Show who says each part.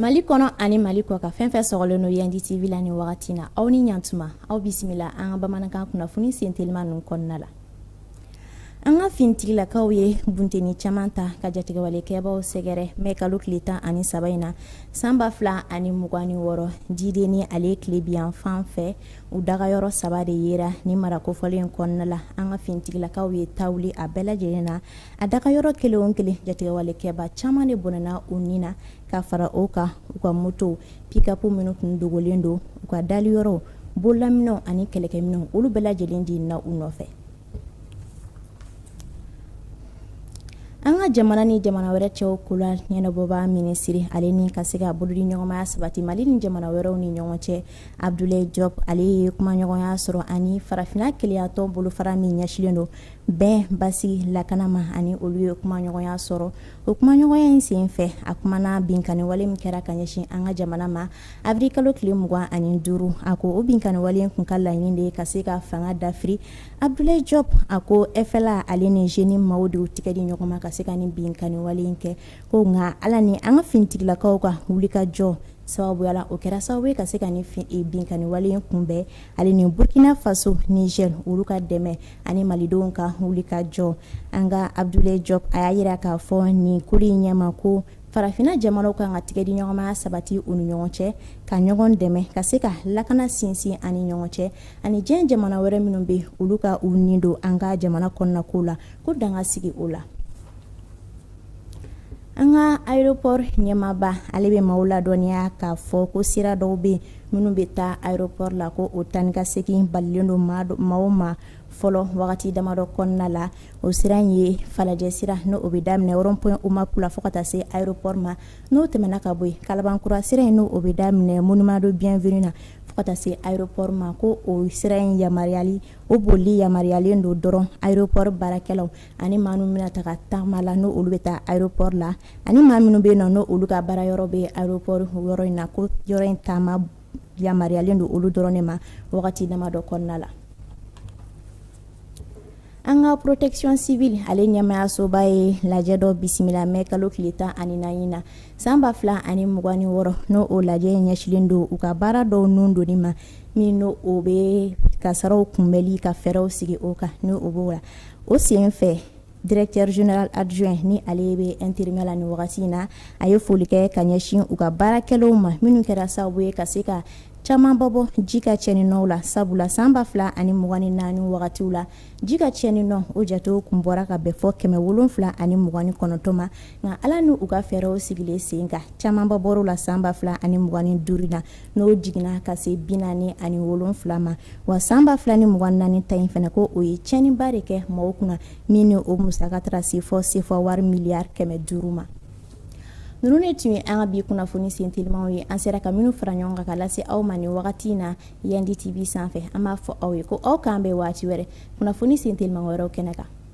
Speaker 1: mali kɔnɔ ani mali kɔkan fɛn fɛn sɔgɔlen don yandi tv la nin wagati na aw ni ɲatuma aw bisimila an ka bamanankan kunnafoni sentelima ninnu kɔnɔna la an ka finitigilakaw ye bunteni caman ta ka jatigɛwalekɛbaw sɛgɛrɛ mɛ kalo tile tan ani saba in na san ba fila ani mugan ni wɔɔrɔ jideni ale tilebinyanfan fɛ u dagayɔrɔ saba de yera nin mara kofɔlen in kɔnɔna la an ka finitigilakaw ye ta wuli a bɛɛ lajɛlen na a dagayɔrɔ kelen kelen jatigɛwalekɛba caman de bɔnɛna u nin na ka fara o kan u ka moto pikapu minnu tun dogolen don u ka da yɔrɔ bolaminɛn ani kɛlɛkɛminɛn olu bɛɛ lajɛlen de na u nɔfɛ an ka jamana ni jamana wɛrɛ cɛw ko la ɲɛnabɔbaa minisiri ale ni ka se ka bolodiɲɔgɔnma sabati mali ni jamana wɛrɛw ni ɲɔgɔn cɛ Abdoulaye Diop ale ye kumaɲɔgɔnya sɔrɔ ani farafinna kelenyatɔn bolofara min ɲɛsinlen don bɛn basigi lakana ma ani olu ye kumaɲɔgɔnya sɔrɔ o kumaɲɔgɔnya in sen fɛ a kumana binkanni wale min kɛra ka ɲɛsin an ka jamana ma awirili kalo tile mugan ani duuru a ko o binkanni wale in tun ka laɲini de ye ka se ka fanga dafiri Abdoulaye Diop a ko FLA ale ni JNIM maaw de tigɛ di ɲɔgɔn ma ka se ka nin binkanni wale in kɛ Ko nka ala ni an ka finitigilakaw ka wulikajɔ sababu la o kɛra sababu ye ka se ka nin binkanni wale in kunbɛn ale ni burkina faso nizɛri olu ka dɛmɛ ani malidenw ka wulikajɔ an ka Abdoulaye Diop a y'a jira k'a fɔ nin kulu in ɲɛ ma ko farafinna jamanaw kan ka tigɛdiɲɔgɔnma sabati u ni ɲɔgɔn cɛ ka ɲɔgɔn dɛmɛ ka se ka lakana sinsin an ni ɲɔgɔn cɛ ani diɲɛ jamana wɛrɛ minnu bɛ olu ka u nin don an ka jamana kɔnɔnako la ko dan ka sigi o la an ka aéroport ɲɛmaaba ale bɛ maaw ladɔnniya k'a fɔ ko sira dɔw bɛ yen minnu bɛ taa aéroport la ko o taa ni ka segin balilen don maaw ma fɔlɔ wagati damadɔ kɔnɔna la o sira in ye falajɛ sira n'o o bɛ daminɛ rond point OMAP la fo ka taa se aéroport ma n'o tɛmɛna ka bɔ yen kalabankura sira in n'o o bɛ daminɛ monument de bienvenue na fo ka taa se aéroport ma ko o sira in yamaruyali o bolili yamaruyalen don dɔrɔn aéroport baarakɛlaw ani maa minnu bɛna taa taama la n' olu bɛ taa aropɔri la ani maa minnu bɛ yen n' olu ka baara yɔrɔ bɛ aropɔri yɔrɔ in na ko yɔrɔ in taama yamaruyalen don olu dɔrɔn de ma wagati damadɔ kɔnɔna la an ka protection civile ale ɲɛmayasoba ye lajɛ dɔ bisimila mɛ kalo tile tan ani naani na san ba fila ani mugan ni wɔɔrɔ n'o o lajɛ ɲɛsinlen don u ka baara dɔw ninnu dɔnni ma min n' o bɛ kasaraw kunbɛnli ka fɛɛrɛw sigi o kan n' o b'o la o sen fɛ directeur général adjoint ni ale bɛ intérimaire la ni wagati in na a ye foli kɛ ka ɲɛsin u ka baarakɛlaw ma minnu kɛra sababu ye ka se ka camanba bɔ ji ka cɛnni nɔw la sabula san ba fila ani mugan ni naani wagati la ji ka cɛnni nɔ o jatew tun bɔra ka bɛn fo kɛmɛ wolonwula ani mugan ni kɔnɔntɔn ma nka ala n'u ka fɛɛrɛw sigilen sen kan camanba bɔra a la san ba fila ani mugan ni duuru na n'o jiginna ka se bi naani ani wolonwula ma wa san ba fila ni mugan ni naani ta in fana ko o ye cɛnniba de kɛ mɔgɔw kunna min o musaka taara se fo sefa wari miliyari kɛmɛ duuru ma ninnu de tun ye an ka bi kunnafoni sentelimaw ye an sera ka minnu fara ɲɔgɔn kan ka lase aw ma nin wagati in na yandi TV sanfɛ an b'a fɔ aw ye ko aw k'an bɛn waati wɛrɛ kunnafoni sentelimaw wɛrɛw kɛnɛ kan